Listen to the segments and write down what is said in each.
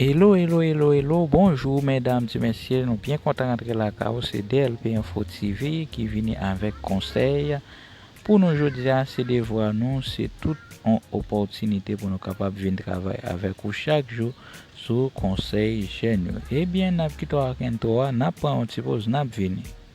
Elo elo elo elo bonjou medam ti mesye nou byen kontan rantre lakay ou se DLP info TV ki vini avek konsey pou nou jodia se devwa nou se tout on opòtinite pou nou kapab vin travay avek ou chak jou sou konsey jèn yo ebyen nap kite w ak intro a nap pran on ti poz nap vini.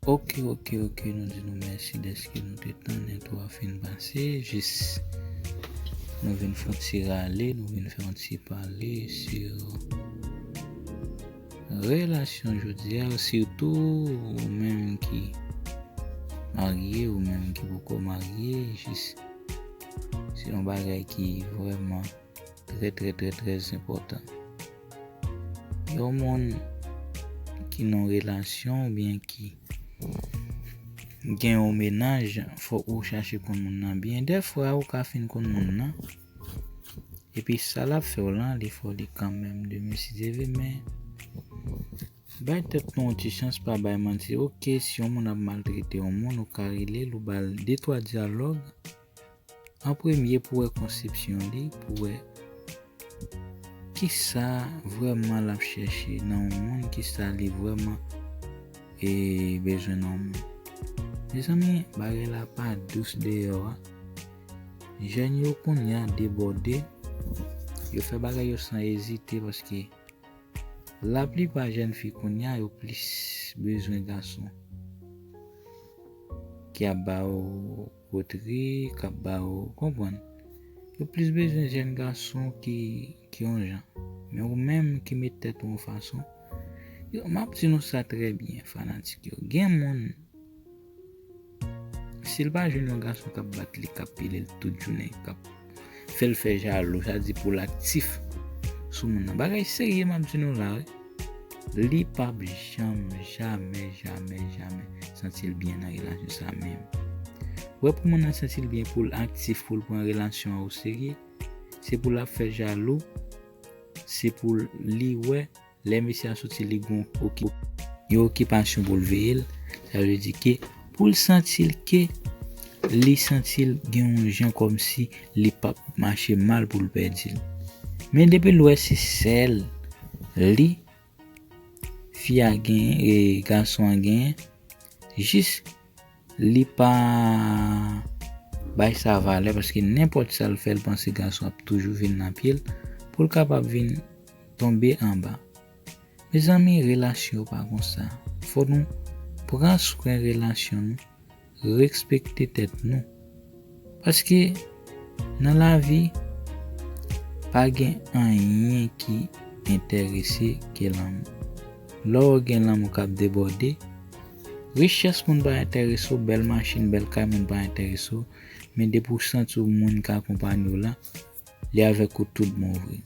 Ok ok ok nou di nou mèsi dèske nou te tann entwo a fin pase jis nou vin fon ti rale nou vin fè yon ti pale sur relasyon jodia sitou ou menm ki marye ou menm ki poko marye jis se yon bagay ki vrèman Trè trè trè trè enpòtan. Yon moun ki nan relasyon ou byen ki gen yon menaj fòk ou chache konn moun nan byen. Dè fwa ou ka fin konn moun nan epi sa l ap fè w lan li fè w li kanmèm de mesi de vi men bay tèt nou yon ti chans pa bay manti. Ok si yon moun ap maltrete yon moun ou ka rele l ou ba l detwa dyalòg. An premye pou wè konsepsyon li, pou wè kisa vrèman l ap chèche nan yon moun, kisa li vrèman bezwen nan yon moun. Mezanmi bagay la pa dous deyò a. Jèn yo kounye a debòde, yo fè bagay yo san ezite paske laplipa jèn fi kounye a yo plis bezwen gason ki ap ba yo. Potre kap ba ou konprann. Yo plis bezwen jèn gason ki yon jan. Men ou menm ki met tèt ou yon fason. Yo map di nou sa trè byen fanatik yo. Gen moun sil pa jwenn yon gason kap bat li kap pile l tout jounen kap. fèl fè jalou sa di poul aktif sou moun nan bagay serye map di nou la wi li pap janm jamè jamè jamè santil byen nan relasyon sa menm wè pou moun nan santil byen poul aktif poul pran relasyon ou serye se poul ap fè jalou se poul li wè Lè mesye a soti li gen yon okipasyon pou l veye l, sa vle di ke pou l santi l ke li santi l gen yon jan kòmsi li p ap mache mal pou l pèdi l. Men depi l wè se sèl li fi a genyen, gason an genyen, jis. Li pa bay sa valè paske nenpòt sa l fè l panse gason ap toujou vin nan pye l pou l kapab vin tonbe anba. Mezanmi relasyon pa konsa fò nou pran swen relasyon nou, respekte tèt nou. Paske nan lavi pa gen anyen ki enterese ke lanmou. Lè w gen lanmou kap debòde, richès moun pa enterese w, bèl machin, bèl kay moun pa enterese w, men depi w santi w moun ki akonpanye w la, li avèk ou tout bon vre.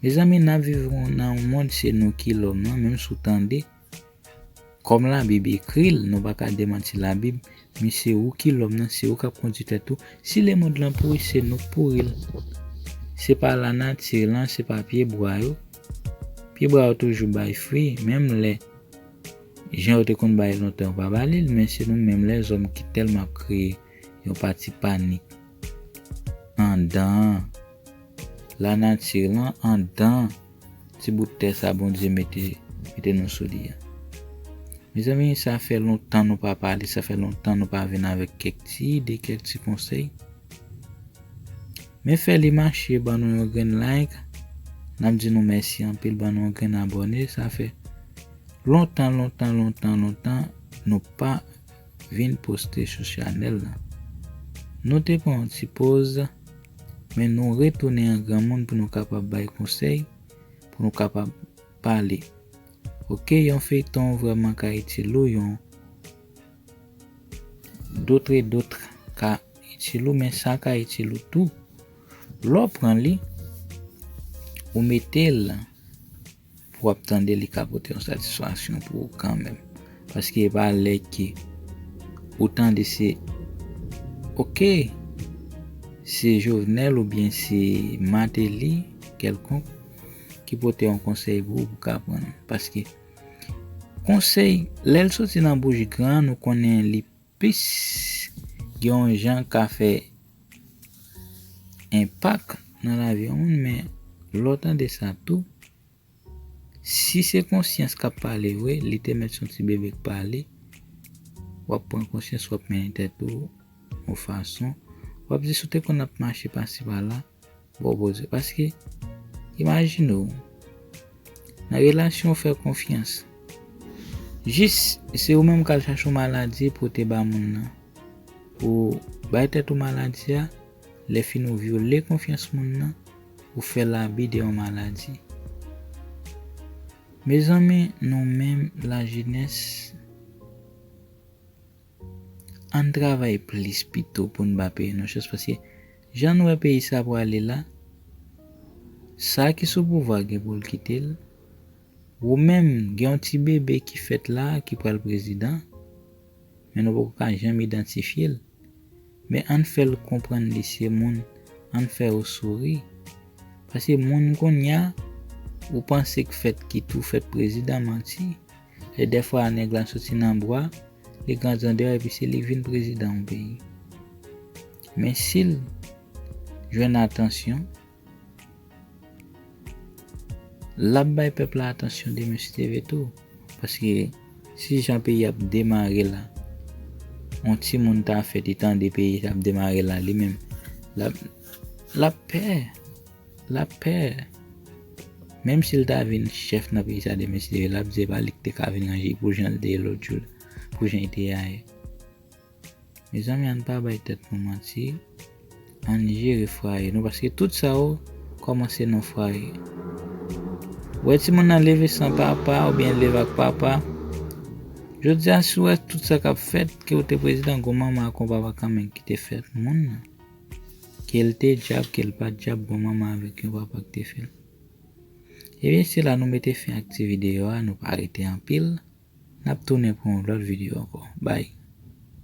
Mezanmi nap viv nan yon mond se nou ki lòm nan, menm si w tande. Kòm labib ekri l nou pa ka demanti labib mi se ou ki lòm nan se ou kap kondi tèt ou si lemond lan pouri se nou k pouri l se pa lanati lan se pa pye bwa yo pye bwa yo toujou bay fwi menm lè jan yo te konn bay lontan yo pa ba li l men se nou menm lèzòm ki tèlman ap kreye yon pati panik andan lanati lan andan. Ti bout tè sa Bondye mete mete nou sou li a. Mezanmi sa fè lontan nou pa pale, sa fè lontan nou pa vin avèk kèk ti ide, kèk ti konsèy. Men fè li mache ban nou yon grenn like, nap di nou mèsi anpil ban nou yon grenn abòne sa fè lontan lontan lontan lontan nou pa vin poste sou chanèl la. Nou te pran yon ti poz. Men nou retounen an granmoun pou nou kapab bay konsèy, pou nou kapab pale. Ok yon feyton vrèman ka itil ou yon d'autre et d'autre ka itil ou men sa ka itil ou tou lè w pran li ou mete l Pou wap tande li ka pote yon satisfaksyon pou ou kanmenm. Paske e pa lè ke ou tande se ok se Jovenel ou byen se Martelly kelkonk ki pote yon konsey pou ou pou ka pran. Paske konsey lèl soti nan bouch gran nou konnen li Peace! Gen yon jan ka fè enpak nan lavi yon moun men lè w tande sa tou, si se konsyans k ap pale vre, li te mèt se yon ti bebe k pale, w ap pran konsyans, w ap mennen tèt ou yon fason, w ap di si w te konn ap mache pasi pala, Bon koze paske imajine w nan relasyon ou fè konfyans jis se ou menm k al chache yon maladi pote ba moun nan ou bay tèt ou maladi a lèfini ou vyole konfyans moun nan ou fè l abi de yon maladi Mezanmi nou menm lajenès. Ann travay plis pito pou n ba peyi nou chans paske jan n wè peyi sa prale la, sa ki sou pouvwa gen pou l kite l, wou menm gen yon ti bebe ki fèt la ki pral prezidan men nou poko ka janm idantifye l men ann fè l konprann li se moun ann fè yo souri paske moun kounya wou panse k fèt ki tou fèt prezidan manti. E dèfwa nèg la soti nan bwa, li grandandè epi se li k vin prezidan yon peyi. Men si l jwenn atansyon, l ap bay pèp la atansyon demen si te vle tou. Paske si jan peyi ap demare la, yon timoun ta fèt e tande peyi ap demare la li menm, l ap pè. L ap pè. Menm si l ta vin chèf nan peyi sa demen si te vle l ap di se pa li ki te ka vin ranje l pou jan l te ye lòt jou la, pou jan l te ye ayè. Mezanmi ann pa bay tèt nou manti, ann jere fwaye nou paske tout sa yo kòmanse nan fwaye. Ou wè timoun nan leve san papa oubyen l leve ak papa, jodi a si w wè tout sa k ap fèt ke w te prezidan gon manman ak gon papa kanmenm ki te fè moun nan. Kel te dyab kel pat dyab bon manman avèk yon papa ki te fèl. Ebyen se la nou mete fen ak ti video a nou pa rete anpil nap tounen pou yon lòt video ankò bye.